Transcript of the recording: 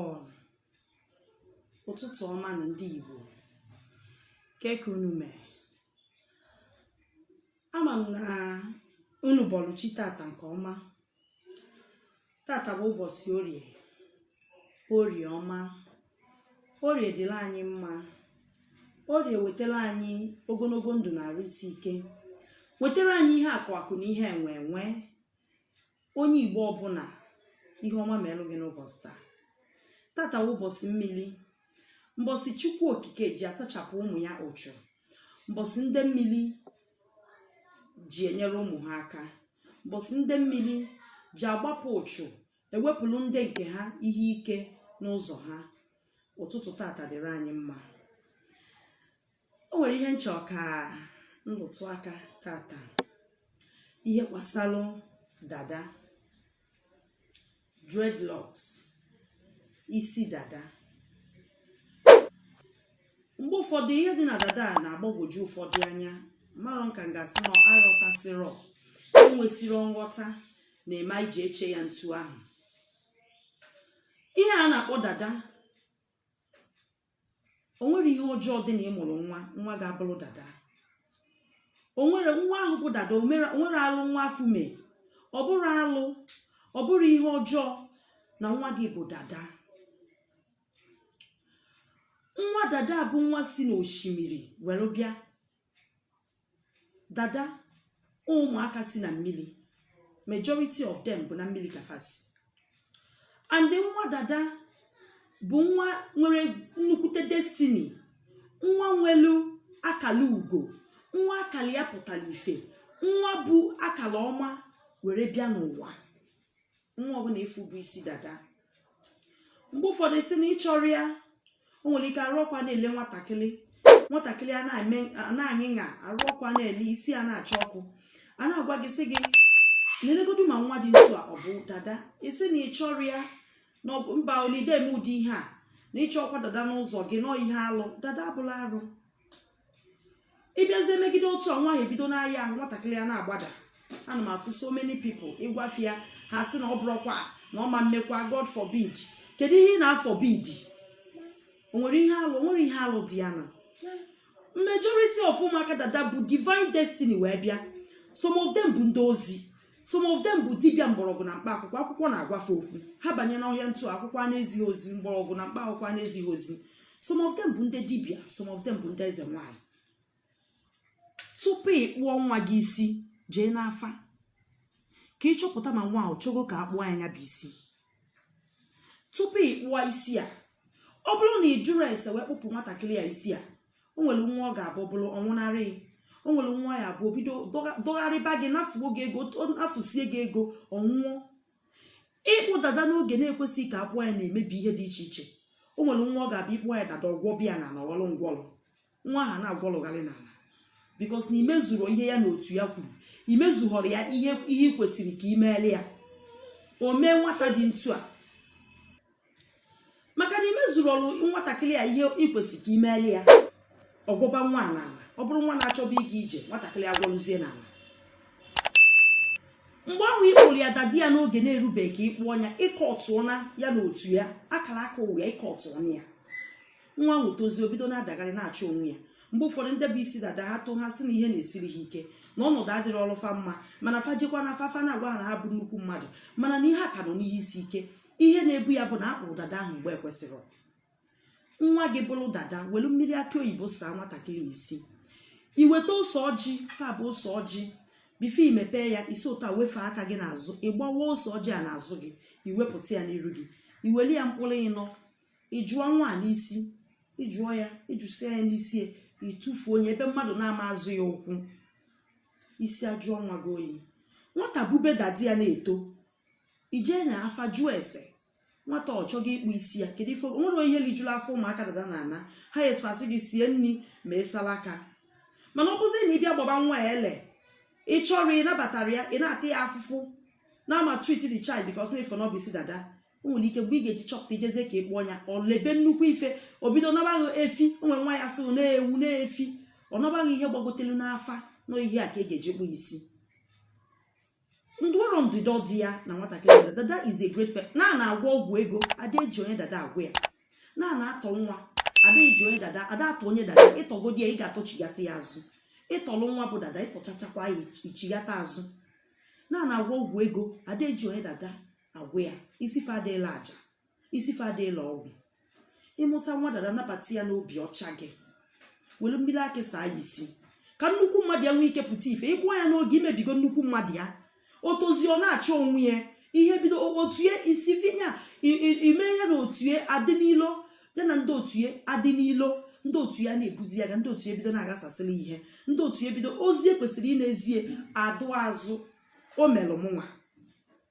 ọ ụtụtụ ọma nụ ndị Igbo kee ka unu mere ama m na unu bọlụ chi tata nke ọma tata bụ ụbọchị orie orie ọma orie dịla anyị mma orie wetara anyị ogologo ndụ na arụ isi ike wetara anyị ihe akụ akụ na ihe enwe enwe onye igbo ọbụla ihe ọma melu gị n'ụbọchị taa tata bụ ụbọchị mmiri mbọsị chukwu okike ji asachapụ ụmụ ya uchu mbọsị ndị mmiri ji enyere ụmụ ha aka mbọsị ndị mmiri ji agbapụ uchu ewepụrụ ndị nke ha ihe ike n'ụzọ ha ụtụtụ tata dịrị anyị mma o nwere ihe m chọ ka m rụtụ aka tata ihe gbasalụ dada dreadlocks isi dada mgbe ụfọdụ ihe dị na dada a na-agbagwoju ụfọdụ anya marọ nke m ga-asị na aghọtasịrọ enwesịrọ nghọta na-eme e ji eche ya ntu ahụ ihe a na-akpọ dada o nwerọ ihe ọjọọ dị na ị mụrụ nwa nwa gị abụrụ dada o nwere nwa ahụ bụ dada o mere- o nwerọ alụ nwa afụ mee ọ bụrọ alụ ọ bụrọ ihe ọjọọ na nwa gị bụ dada nwa dada bụ nwa si n'osimiri were bịa dada ụmụaka si na mmiri majority of them bụ na mmiri ka fa si and nwa dada bụ nwa nwere nnukwute destiny nwa nwelu akala ugo nwa akala ya pụtara ife nwa bu akala ọma were bịa n'ụwa nwa ọbụla ị fụ bu isi dada mgbe ụfọdụ ị sị na ị chọrọ ya o nwere ike arụ ọkụ a na-ele nwatakịrị nwatakịrị a na-arịa arụ ọkụ a na-ele isi a na-acha ọkụ a na-agwa gị sị gị nelegodu ma nwa dị ntu a ọ bụ dada ị sị na ị chọrọ ya na mba na ị dị eme ụdị ihe a na ị chọrọkwa dada n'ụzọ gị na ọ ihe alụ dada abụrọ arụ ị bịazie megide otu a nwa ahụ ebido na-arịa ahụ nwatakịrị a na-agbada ana m afụ so many people ị gwa fa ya ha sị na ọ bụrụkwa na ọ ma mmekwa god forbid kedu ihe ị na-aforbid o nwere ihe alụ o nwere ihe alụ dị ya na majority of ụmụaka dada bu divine destiny wee bịa some of them bụ ndị ozi some of them bụ dibịa mgbọrọgwụ na mkpa akwụkwọ akwụkwọ na-agwa fa okwu ha banye n'ọhịa ntu a akwụkwọ a na-ezi ha ozi mgbọrọgwụ na mkpa akwụkwọ a na-ezi ha ozi some of them bụ ndị dibịa some of them bụ ndị eze nwanyị tupu ị kpụọ nwa gị isi jee n'afa ka ị chọpụta ma nwa ahụ chọgo ka a kpụọ ya ya bụ isi tupu ị kpụọ isi a ọ bụrụ na ị jụrọ ese wee kpụpụ nwatakịrị a isi a o nwere nwa ọ ga-abụ bụrụ ọ nwụnarị o nwere nwa ọ ya-abụ o bido dọga- dọgharịba gị nafuo gị ego o- nafusie gị ego ọ nwụọ ịkpụ dada n'oge na-ekwesịghị ka a kpụọ ya na-emebi ihe dị iche iche o nwere nwa ọ ga-abụ ị kpụọ ya dada ọ gwọba ya ana na-agwọlụ ngwọrọ nwa ahụ na-agwọlụgharị n'ala because na i mezurọ ihe ya na otu ya kwuru i mezughọrọ ya ihe ihe ị kwesịrị ka ị meere ya o mee nwata dị otu a maka na i mezurọrọ nwatakịrị a ihe ị kwesịrị ka ị meere ya ọ gwọba nwa a n'ala ọ bụrụ nwa na-achọba ịga ije nwatakịrị agwọrụzie n'ala mgbe ahụ ị kpụrụ ya dada ya n'oge na-erubeghị ka ị kpụọ nya ị kọtụọna ya na otu ya akara aka ụwa ya ị kọtụọna ya nwa ahụ tozie o bido na-adagharị na-achọ onwe ya mgbe ụfọdụ ndị bụ isi dada ha tụ ha sị na ihe na-esiri ha ike na ọnọdụ adịrọlụ fa mma mana fa jekwa n'afa afa na-agwa ha na ha bụ nnukwu mmadụ mana na ihe a ka nọ n'ihe isi ike ihe na-ebu ya bụ na akpụrọ dada ahụ mgbe e kwesịrị nwa gị bụrụ dada welu mmiri akị oyibo saa nwatakịrị isi i weta ose ọjị ya bụ ose ọjị before i mepee ya i si otu a wefee aka gị n'azụ ị gbawaa ose ọjị a n'azụ gị i wepụta ya n'iru gị i welụ ya mkpụrụ ịnọ ị jụọ nwa a n'isi ị jụọ ya ị jụsịa ya n'isi ya ị tụfuo nya ebe mmadụ na-ama azọ ya ụkwụ isi ajụọ nwa gị oyi nwata bube dada ya na-eto i jee n'afa jụọ ese nwata ọ chọghị ịkpụ isi ya kedu ife o nwere ihe lijuru afọ ụmụaka dada na ana ha esipasị gị sie nri ma ị sala aka mana ọ bụzi na ị bịa gbaba nwa ya ele ị chọrọ ịnabatara ya ị na-ata ya afụfụ na-amaltreat the child because na ị fụ na ọ bụ isi dada o nwere ike mgbe ị ga-eji chọpụta i jezie ka ị kpụọ ya o libe nnukwu ife o bido naba gị efi o nwere nwa ya-asị na ewu na efi ọ naba gị ihe gbagotelu n'afa na ihe a ka e ga-eji kpụ isi ndọrọ ndọrọ dị ya na nwatakịrị dada dada is a great person na a na-agwọ ọgwụ ego ada eji onye dada agwọ ya na a na-atọ nwa ada eji onye dada ada atọ onye dada ị tọgodi ya ị ga-atọchighata ya azụ ị tọlụ nwa bụ dada ị tọchachakwa ya ichighata azụ na a na-agwọ ọgwụ ego ada eji onye dada agwọ ya isi fa adịla aja isi fa adịla ọgwụ ị mụta nwa dada nabata ya n'obi ọcha gị were mmiri akị saa ya isi ka nnukwu mmadụ ya nwee ike pụta ife ị kpụọ ya n'oge i mebigo nnukwu mmadụ ya o tozie ọ na-achọ onwe ya ihe bido o- otu ya isi vinya i- i- ime ya na otu ya adị n'ilo ya na ndị otu ya adị n'ilo ndị otu ya na-ebuzi ya ga ndị otu ya bido na-aghasasịrị ihe ndị otu ya bido ozi e kwesịrị ịna-ezi ya adaa azụ o melụ mụnwa